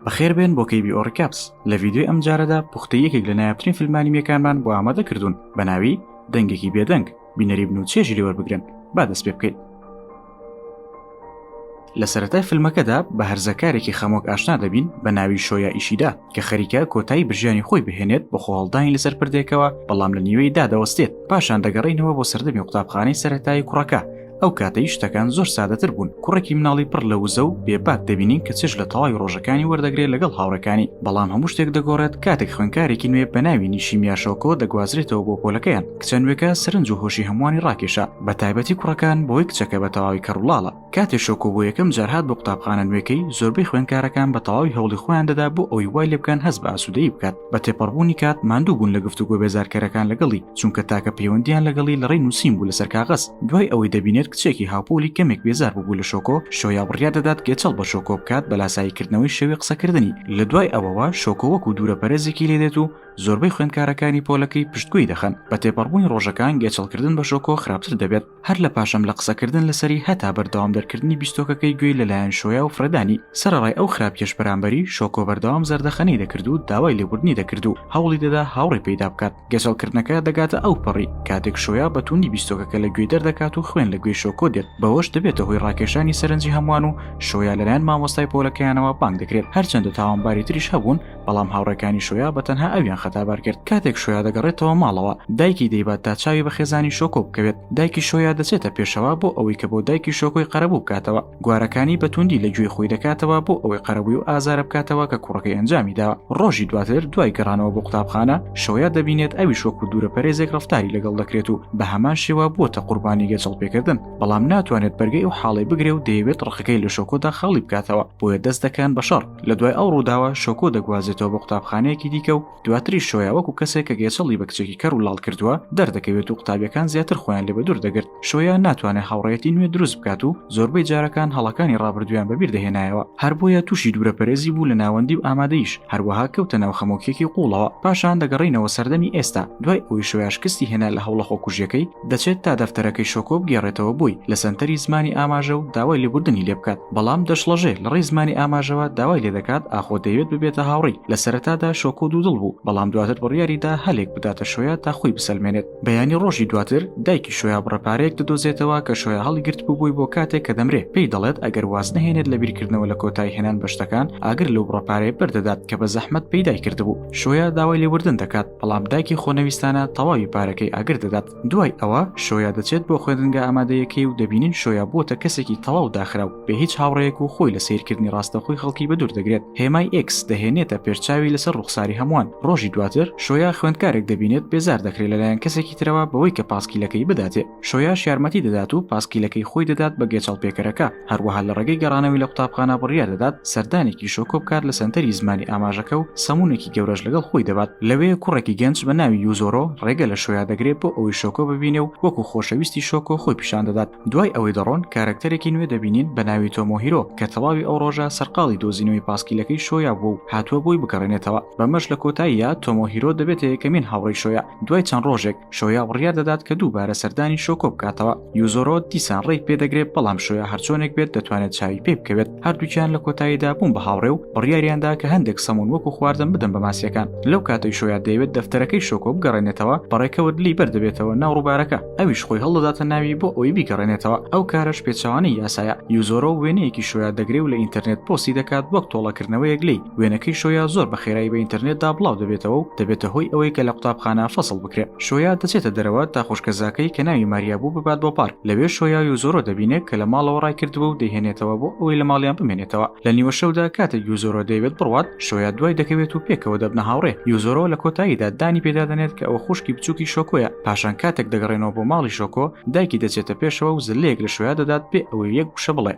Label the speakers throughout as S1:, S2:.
S1: بەخێر بێن بۆ کەی بیۆ ڕکاپس لە ڤیددیوی ئەم جارەدا پوختە یەکێک لە نایابترین فیلمانیمیەکانمان بۆ ئامادە کردوون بە ناوی دەنگێکی بێدەنگ بینەری بن و چێژی لێوەربگرن با دەست پێ بکەین لە سەتای فیلمەکەدا بە هەرزەکارێکی خەمۆک ئاشنا دەبین بە ناوی شۆیا ئیشیدا کە خەریکە کۆتایی برژانی خۆی بهێنێت بە خۆڵدانی لەسەر پردێکەوە بەڵام لە نیوەی دادەوەستێت پاشان دەگەڕینەوە بۆ سەردەمی قوتابخانەی سەتای کوڕەکە ئەو کاتەی شتەکان زۆر سادەتر بوون کوڕێکی مناڵی پڕ لە وزە و بێباک دەبینین کە چش لە تەواوی ڕۆژەکانی وەردەگرێت لەگەڵ هاوڕەکانی بەڵام هەموو شتێک دەگۆڕێت کاتێک خوێنکارێکی نوێ بە ناوی نیشی میاشۆکۆ دەگوازرێتەوە بۆ پۆلەکەیان کچە نوێکە سرنج و هۆشی هەمووانی ڕاکێشە بە تایبەتی کوڕەکان بۆی کچەکە بە تەواوی کەڕوڵاڵە کاتێ شۆکۆ بۆ یەکەم جارهات بۆ قوتابخانە نوێکەی زۆربەی خوێنکارەکان بە تەواوی هەوڵی خۆیان دەدا بۆ ئەوی وای لێ بکەن هەست بە ئاسوودەی بکات بە تێپەڕبوونی کات ماندوو بوون لە گفتوگۆ بێزارکەرەکان لەگەڵی چونکە تاکە پەیوەندیان لەگەڵی لە ڕێی نووسین بوو لەسەر کاغەز دوای ئەوەی دەبینێت کچێکی هاوپۆلی کەمێک بێزار ببوو لە شۆکۆ شۆیا بڕیا دەدات گێچەڵ بە شۆکۆ بکات بە لاساییکردنەوەی شێوی قسەکردنی لە دوای ئەوەوە شۆکۆ وەکو دوورە پەرێزێکی لێدێت و زۆربەی خوێندکارەکانی پۆلەکەی پشتگوێی دەخەن بە تێپەڕبوونی ڕۆژەکان گێچەڵکردن بە شۆکۆ خراپتر دەبێت هەر لە پاشم لە قسەکردن لەسەری هەتا بەردەوام دەرکردنی بیستۆکەکەی گوێی لەلایەن شۆیا و فرەدانی سەرەڕای ئەو خراپیەش بەرامبەری شۆکۆ بەردەوام زەردەخەنەی دەکرد و داوای لێبوردنی دەکرد و هەوڵی دەدا هاوڕێ پەیدا بکات گەچەڵکردنەکە دەگاتە ئەو پەڕی کاتێک شۆیا بە توندی بیستۆکەکە لە گوێی دەردەکات و خوێن لە گوێی شۆکۆ دێت بەوەش دەبێتە هۆی ڕاکێشانی سەرنجی هەمووان و شۆیا لەلایەن مامۆستای پۆلەکەیانەوە بانگ دەکرێت هەرچەندە تاوانباری تریش هەبوون بەڵام هاوڕێکانی شۆیا بە تەنها ئەویان خەتابار کرد کاتێک شۆیا دەگەڕێتەوە ماڵەوە دایکی دەیبات تا چاوی بە خێزانی شۆکۆ بکەوێت دایکی شۆیا دەچێتە پێشەوە بۆ ئەوەی کە بۆ دایکی شۆکۆی قەرەبوو بکاتەوە گوارەکانی بە توندی لە گوێی خۆی دەکاتەوە بۆ ئەوەی قەرەبووی و ئازارە بکاتەوە کە کوڕەکەی ئەنجامی داوە ڕۆژی دواتر دوای گەڕانەوە بۆ قوتابخانە شۆیا دەبینێت ئەوی شۆک و دوورە پەرێزێک ڕفتاری لەگەڵ دەکرێت و بە هەمان شێوە بووەتە قوربانی گەچەڵ پێکردن بەڵام ناتوانێت بەرگەی و حاڵی بگرێ و دەیەوێت ڕقەکەی لە شۆکۆدا خاڵی بکاتەوە بۆیە دەست دەکەن بە شەڕ لە دوای ئەو ڕووداوە شۆکۆ دەگوازێتەوە بۆ قوتابخانەیەکی دیکە و دواتری شۆیا وەکو کەسێک کە گێچەڵی بە کچێکی کەڕ و لاڵ کردووە دەردەکەوێت و قوتابیەکان زیاتر خۆیان لێ بەدوور دەگرت شۆیا ناتوانێت هاوڕێیەتی نوێ دروست بکات و زۆربەی جارەکان هەڵەکانی ڕابردوویان بەبیر دەهێنایەوە هەر بۆیە تووشی دوورەپەرێزی بوو لە ناوەندی و ئامادەیش هەروەها کەوتە ناو خەمۆکیەکی قوڵەوە پاشان دەگەڕێینەوە سەردەمی ئێستا دوای ئەوەی شۆیا شکستی هێنا لە هەوڵە خۆکوژیەکەی دەچێت تا دەفتەرەکەی شۆکۆ بگێڕێتەوە بۆی لە سەنتەری زمانی ئاماژە و داوای لێبوردنی لێ بکات بەڵام دەشڵەژێ لەڕێی زمانی ئاماژەوە داوای لێ دەکات ئاخۆ دەیەوێت ببێتە هاوڕی لە سەرەتادا شۆکۆ دوودڵ بوو بەڵام دواتر بڕیاری دا هەلێک بداتە شۆیا تا خۆی بسەلمێنێت بەیانی ڕۆژی دواتر دایکی شۆیا بڕە پارەیەک دەدۆزێتەوە کە شۆیا هەڵیگرتبوو بۆی بۆ کاتێک کە دەمرێ پێی دەڵێت ئەگەر واز نەهێنێت لە بیرکردنەوە لە کۆتایی هێنان بە شتەکان ئاگر لەو بڕە پارەیە بەر دەدات کە بە زەحمەت پەیدای کردبوو شۆیا داوای لێبوردن دەکات بەڵام دایکی خۆنەویستانە تەواوی پارەکەی ئاگر دەدات دوای ئەوە شۆیا دەچێت بۆ خوێندنگە ئامادەیەکەی و دەبینین شۆیا بووتە کەسێکی تەواو داخراو بێ هیچ هاوڕەیەک و خۆی لە سیرکردنی ڕاستەخۆی خەڵکی بە دوور دەگرێت هێمای ئکس دەهێنێتە پێرچاوی لەسەر ڕوخساری هەمووان ڕۆژی دواتر شۆیا خوێندکارێک دەبینێت بێزار دەکرێت لەلایەن کەسێکی ترەوە بەوەی کە پاسکیلەکەی بداتێ شۆیاش یارمەتی دەدات و پاسکیلەکەی خۆی دەدات بە گێچەڵپێکەرەکە هەروەها لە ڕێگەی گەڕانەوەی لە قوتابخانە بڕیار دەدات سەردانێکی شۆکۆ بکات لە سەنتەری زمانی ئاماژەکە و سەمونێکی گەورەش لەگەڵ خۆی دەبات لەوێ کوڕێکی گەنج بە ناوی یوزۆرۆ ڕێگە لە شۆیا دەگرێت بۆ ئەوەی شۆکۆ ببینێ و وەکو خۆشەویستی شۆکۆ خۆی پیشان دەدات دوای ئەوەی دەڕۆن کارەکتەرێکی نوێ دەبینین بە ناوی تۆمۆهیرۆ کە تەواوی ئەو ڕۆژە سەرقاڵی دۆزینەوەی پاسکیلەکەی شۆیا بووە و هاتووە بۆی بگەڕێنێتەوە بەمەش لە کۆتاییا تۆمۆهیرۆ دەبێتە یەکەمین هاوڕێی شۆیا دوای چەند ڕۆژێک شۆیا بڕیار دەدات کە دووبارە سەردانی شۆکۆ بکاتەوە یوزۆرۆ دیسان ڕێک پێدەگرێت بەڵام شۆیا هەرچۆنێک بێت دەتوانێت چاوی پێ بکەوێت هەردووکیان لە کۆتاییدا بووم بە هاوڕێ و بڕیاریاندا کە هەندێک سەمون وەکو خواردن بدەم بە ماسیەکان لەو کاتەی شۆیا دەیەوێت دەفتەرەکەی شۆکۆ بگەڕێنێتەوە بەڕێکەوت لی بەردەبێتەوە ناو ڕووبارەکە ئەویش خۆی هەڵدەداتە ناوی بۆ ئەوی بیگەڕێنێتەوە ئەو کارەش پێچوانەی یاسایە یوزۆرۆ وێنەیەکی شۆیا دەگرێ و لە ئینتەرنێت پۆسی دەکات وەک تۆڵەکردنەوەیەک لی وێنەکەی شۆیا زۆر بە خێرایی بە ئینتەرنێتدا بڵاو دەبێتەوە و دەبێتە هۆی ئەوەی کە لە قوتابخانە فەسڵ بکرێ شۆیا دەچێتە دەرەوە تا خوشکەزاکەی کە ناوی ماریا بوو ببات بۆ پارک لەوێ شۆیا و زۆرۆ دەبینێت کە لە ماڵەوە ڕای کردووە و دەیهێنێتەوە بۆ ئەوەی لە ماڵیان بمێنێتەوە لە نیوە شەودا کاتێک یوزۆرۆ دەیەوێت بڕوات شۆیا دوای دەکەوێت و پێکەوە دەبنە هاوڕێ یوزۆرۆ لە کۆتاییدا دانی پێدا دەنێت کە ئەوە خوشکی بچووکی شۆکۆیە پاشان کاتێک دەگەڕێنەوە بۆ ماڵی شۆکۆ دایکی دەچێتە پێشەوە و زلەیەک لە شۆیا دەدات بێ ئەوەی یەک وشە بڵێ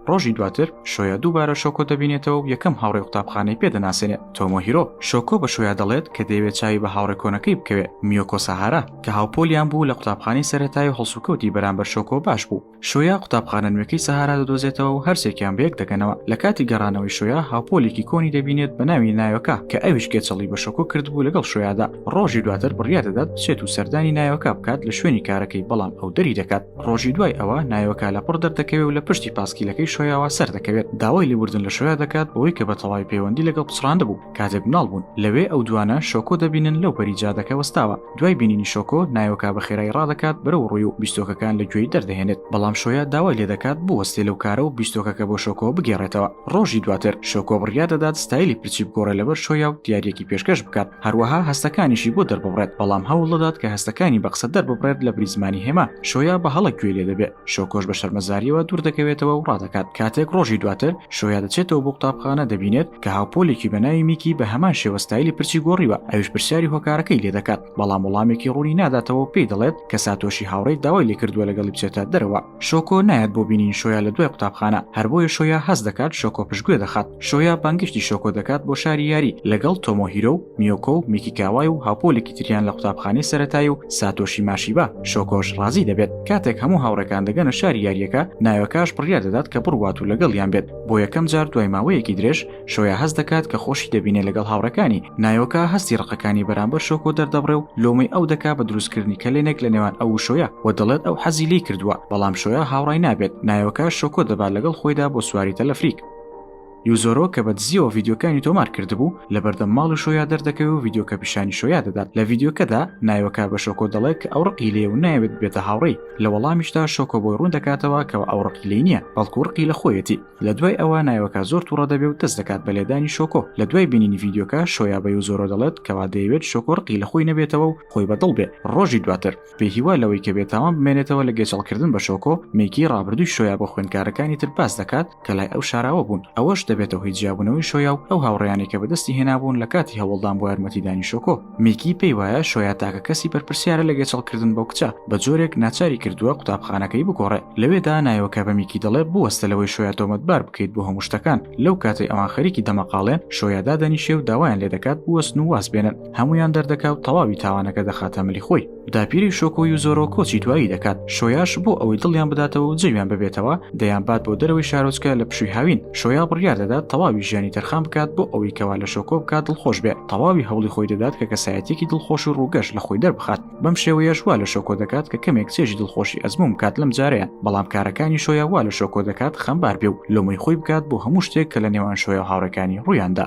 S1: ڕۆژی دواتر شۆیا دووبارە شۆکۆ دەبینێتەوە و یەکەم هاوڕێ قوتابخانەی پێ دەناسێنێ تۆمۆ هیرۆ شۆکۆ بە شۆیا دەڵێت کە دەیەوێت چاوی بە هاوڕێ کۆنەکەی بکەوێت میۆکۆ سەهارا کە هاوپۆلیان بوو لە قوتابخانەی سەرەتای و هەڵسوکەوتی بەرامبەر شۆکۆ باش بوو شۆیا قوتابخانە نوێکەی سەهارا دەدۆزێتەوە و هەرسێکیان بەیەک دەگەنەوە لە کاتی گەڕانەوەی شۆیا هاوپۆلێکی کۆنی دەبینێت بە ناوی ناوەکە کە ئەویش گێچەڵی بە شۆکۆ کردبوو لەگەڵ شۆیادا ڕۆژی دواتر بڕیادەدات بچێت و سەردانی ناوەکە بکات لە شوێنی کارەکەی بەڵام ئەو دەری دەکات ڕۆژی دوای ئەوە نایۆکە لە پڕ دەردەکەوێت و لە پشتی پاسکیلەکەی شۆیاوە سەر دەکەوێت داوای لێبوردن لە شۆیا دەکات بۆی کە بە تەواوی پەیوەندی لەگەڵ پچڕاندە بوو کاتێک مناڵ بوون لەوێ ئەو دوانە شۆکۆ دەبینن لەو پەری جادەکە وەستاوە دوای بینینی شۆکۆ نایۆکە بە خێرای ڕادەکات بەرەو ڕووی و بیستۆکەکان لە گوێی دەردەهێنێت بەڵام شۆیا داوای لێ دەکات بوەستێ لەو کارە و بیستۆکەکە بۆ شۆکۆ بگێڕێتەوە ڕۆژی دواتر شۆکۆ بڕیا دەدات ستایلی پرچی بگۆڕێ لەبەر شۆیا و دیارەکی پێشکەش بکات هەروەها هەستەکانیشی بۆ دەرببڕێت بەڵام هەوڵدەدات کە هەستەکانی بە قسە دەرببڕێت لە بریزمانی هێما شۆیا بە هەڵە گوێ لێ دەبێت شۆکۆش بە شەرمەزاریەوە دوور دەکەوێتەوە و ڕادەکات کاتێک ڕۆژی دواتر شۆیا دەچێتەوە بۆ قوتابخانە دەبینێت کە هاوپۆلێکی بە ناوی میکی بە هەمان شێوە ستایلی پرچی گۆڕیوە ئەوش پرسیاری هۆکارەکەی لێ دەکات بەڵام وڵامێکی ڕوونی ناداتەوە پێی دەڵێت کە ساتۆشی هاوڕێی داوای لێکردووە لەگەڵی بچێتە دەرەوە شۆکۆ نایەت بۆ بینین شۆیا لە دوای قوتابخانە هەر بۆیە شۆیا هەست دەکات شۆکۆ پشتگوێ دەخات شۆیا بانگشتی شۆکۆ دەکات بۆ شاری یاری لەگەڵ تۆمۆهیرۆ و میۆکۆ و میکیکاوای و هاوپۆلێکی تریان لە قوتابخانەی سەتای و ساتۆشی ماشیبا شۆکۆش ڕازی دەبێت کاتێک هەموو هاوڕێکان دەگەنە شاری یاریەکە نایۆکاش بڕیار دەدات کە بڕوات و لەگەڵیان بێت بۆ یەکەم جار دوای ماوەیەکی درێژ شۆیا هەست دەکات کە خۆشی دەبینێ لەگەڵ هاوڕەکانی نایۆکە هەستی ڕقەکانی بەرامبەر شۆکۆ دەردەبڕێ و لۆمەی ئەو دەکا بە دروستکردنی کەلێنێک لە نێوان ئەو شۆیا و دەڵێت ئەو حەزی لی کردووە بەڵام شۆیا هاوڕای نابێت نایۆکە شۆکۆ دەبات لەگەڵ خۆیدا بۆ سواری تەلەفریک یوزۆرۆ کە بە دزیەوە ڤیددیوکانی تۆمار کردبوو لە بەردەم ماڵ و شۆیا دەردەکەوێ و ڤیددیوکە پیشانی شۆیا دەدات لە ڤیددیوکەدا نایۆکە بە شۆکۆ دەڵێت کە ئەو ڕقی لێ و ناوێت بێتە هاوڕێی لە وەڵامیشدا شۆکۆ بۆی ڕوون دەکاتەوە کەەوە ئەو ڕقی لی نییە بەڵکو ڕقی لە خۆیەتی لە دوای ئەوە نایۆکا زۆر تووڕە دەبێ و دەست دەکات بە لێدانی شۆکۆ لە دوای بینینی ڤیددیوکە شۆیابەی و زۆرۆ دەڵێت کەوا دەیەوێت شۆکۆ ڕقی لە خۆی نەبێتەوە و خۆی بەدڵ بێ ڕۆژی دواتر بێ هیوا لەوەی کە بێتاوان بمێنێتەوە لە گێچەڵکردن بە شۆکۆ مێکی ڕابردووی شۆیا بۆ خوێندکارەکانی تر باس دەکات کە لای ئەو شاراوە بوون ئەوەش دەبێتەوە هی جیابوونەوەی شۆیا و ئەو هاوڕێیانی کە بەدەستی هێنابوون لە کاتی هەوڵدان بۆ یارمەتیدانی شۆکۆ میکی پێیوایە شۆیا تاکە کەسی بەرپرسیارە لە گەچەڵکردن بەو کچە بە جۆرێک ناچاری کردووە قوتابخانەکەی بگۆڕێ لەوێدا نایۆکە بە میکی دەڵێ بوەستە لەوەی شۆیا تۆمەتبار بکەیت بۆ هەموو شتەکان لەو کاتەی ئەوان خەریکی دەمەقاڵێن شۆیا دادەنیشێ و داوایان لێ دەکات بوەستن و واز بێنن هەمویان دەردەکا و تەواوی تاوانەکە دەخاتە ملی خۆی داپیری شۆکۆ و زۆرۆ کۆچی دوایی دەکات شۆیاش بۆ ئەوەی دڵیان بداتەوە و جەویان ببێتەوە دەیان بات بۆ دەرەوەی شارۆچکە لە پشوی هاوین شۆیا بڕیار دەدات تەواوی ژیانی تەرخان بکات بۆ ئەوەی کەوا لە شۆکۆ بکات دڵخۆش بێت تەواوی هەوڵی خۆی دەدات کە کەسایەتێکی دڵخۆش و ڕووگەش لە خۆی دەربخات بەم شێوەیەش وا لە شۆکۆ دەکات کە کەمێک چێژی دڵخۆشی ئەزموم بکات لەم جارەیە بەڵام کارەکانی شۆیا وا لە شۆکۆ دەکات خەمبار بێ و لۆمەی خۆی بکات بۆ هەموو شتێک کە لە نێوان شۆیا هاوڕێکانی ڕوویاندا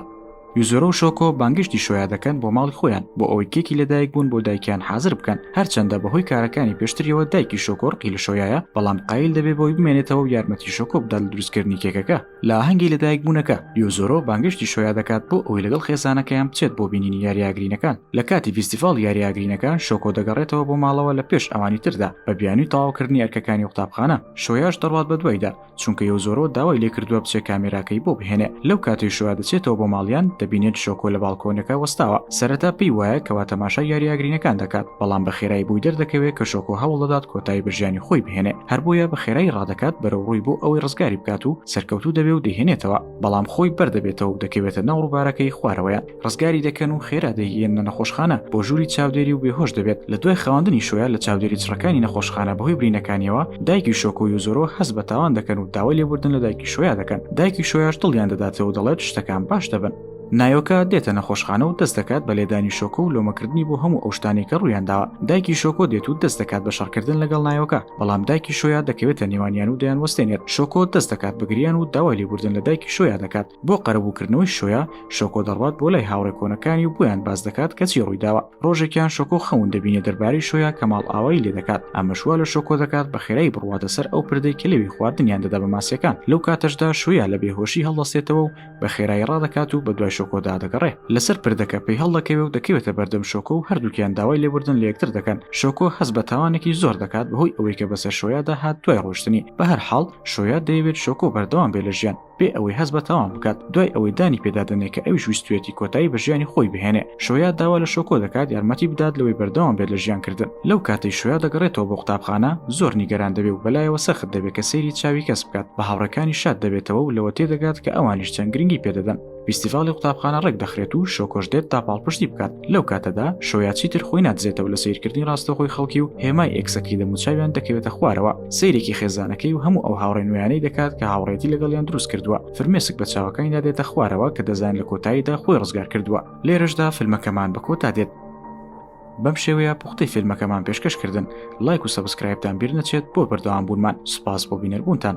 S1: یوزۆرۆ و شۆکۆ بانگشتی شۆیا دەکەن بۆ ماڵی خۆیان بۆ ئەوەی کێکی لەدایک بوون بۆ دایکیان حازر بکەن هەرچەندە بەهۆی کارەکانی پێشتریەوە دایکی شۆکۆر قیل شۆیایە بەڵام قیل دەبێ بۆی بمێنێتەوە و یارمەتی شۆکۆ بدات لە دروستکردنی کێکەکە لە ئاهەنگی لەدایک بوونەکە یۆزۆرۆ بانگشتی شۆیا دەکات بۆ ئەوەی لەگەڵ خێزانەکەیان بچێت بۆ بینینی یاریاگرینەکان لە کاتی فیستیڤاڵ یاریاگرینەکان شۆکۆ دەگەڕێتەوە بۆ ماڵەوە لە پێش ئەوانی تردا بە بیانوی تەواوکردنی ئەرکەکانی قوتابخانە شۆیاش دەڕوات بە دوایدا چونکە یو زۆرۆ داوای لێکردووە بچێ کامێراکەی بۆ بهێنێ لەو کاتی شووا دەچێتەوە بۆ ماڵیان دەبینێت شۆکۆ لە باڵکۆنەکە وەستاوە سەرەتا پێی وایە کەوا تەماشا یاریاگرینەکان دەکات بەڵام بە خێرای بووی دەردەکەوێت کە شۆکۆ هەوڵدەدات کۆتایی بەژیانی خۆی بهێنێ هەر بۆیە بە خێرایی ڕادەکات بەرەو ڕووی بۆ ئەوەی ڕزگاری بکات و سەرکەوتوو دەبێ و دەهێنێتەوە بەڵام خۆی بەردەبێتەوە و دەکەوێتە ناو ڕووبارەکەی خوارەوەیان ڕزگاری دەکەن و خێرا دەیگەێنە نەخۆشخانە بۆ ژووری چاودێری و بێهۆش دەبێت لە دوای خەواندنی شوۆە لە چاودێری چڕەکانی نەخۆشخانە بەهۆی برینەکانیەوە دایکی شۆکۆ و زۆرەوە حەز بە تاوان دەکەن و داوای لێبوردن لە دایکی شوۆیا دەکەن دایکی شوۆیاش دڵیان دەداتەوە دەڵێت شتەکان باش دەبن نایۆکە دێتە نەخۆشخانە و دەست دەکات بە لێدانی شۆکۆ و لۆمەکردنی بۆ هەموو ئەوشتانێکە ڕوویانداوە دایکی شۆکۆ دێت و دەست دەکات بە شەڕکردن لەگەڵ نایۆکە بەڵام دایکی شۆیا دەکەوێتە نێوانیان و دەیان وەستێنێت شۆکۆ دەست دەکات بگریان و داوای لێبوردن لە دایکی شۆیا دەکات بۆ قەرەبووکردنەوەی شۆیا شۆکۆ دەڕوات بۆ لای هاوڕێ کۆنەکانی و بۆیان باز دەکات کەچی ڕوویداوە ڕۆژێکیان شۆکۆ خەون دەبینێ دەربارەی شۆیا کە ماڵ ئاوایی لێ دەکات ئەمەشوا لە شۆکۆ دەکات بە خێرای بڕواتە سەر ئەو پردەی کە لەوی خواردنیان دەدا بە ماسیەکان لەو کاتەشدا شۆیا لە بێهۆشی هەڵدەستێتەوە و بە خێرایی ڕادەکات و بە دوای شۆکۆدا دەگەڕێ لەسەر پردەکە پێی هەڵدەکەوێ و دەکەوێتە بەردەم شۆکۆ و هەردووکیان داوای لێبوردن لە یەکتر دەکەن شۆکۆ هەز بە تاوانێکی زۆر دەکات بەهۆی ئەوەی کە بەسەر شۆیادا هات دوای ڕۆشتنی بە هەر حاڵ شۆیا دەیەوێت شۆکۆ بەردەوام بێ لە ژیان بێ ئەوەی هەز بە تاوان بکات دوای ئەوەی دانی پێدادنێ کە ئەویش ویستێتی کۆتایی بە ژیانی خۆی بهێنێ شۆیا داوا لە شۆکۆ دەکات یارمەتی بدات لەوەی بەردەوام بێت لە ژیان کردن لەو کاتەی شویا دەگەڕێتەوە بۆ قوتابخانە زۆر نیگەران دەبێ و بەلایەوە سەخت دەبێت کە سەیری چاوی کەس بکات بە هاوڕەکانی شاد دەبێتەوە و لەوە تێدەگات کە ئەوانیش چەند گرنگی پێدەدەن فیستیڤاڵی قوتابخانە ڕێک دەخرێت و شۆکۆش دێت تا پاڵپشتی بکات لەو کاتەدا شۆیا چیتر خۆی نادزێتەوە لە سیرکردنی ڕاستەخۆی خەڵکی و هێمای ئێکسەکەی دەموچاویان دەکەوێتە خوارەوە سیرێکی خێزانەکەی و هەموو ئەو هاوڕێ نوێیانەی دەکات کە هاوڕێتی لەگەڵیان دروست کردووە فرمێسک بە چاوەکانی دادێتە خوارەوە کە دەزان لە کۆتاییدا خۆی ڕزگار کردووە لێرەشدا فیلمەکەمان بە کۆتا دێت بەم شێوەیە پوختی فیلمەکەمان پێشکەشکردن لایک و سەبسکرایبتان بیر نەچێت بۆ بەردەوام بوونمان سوپاس بۆ بینەربوونتان.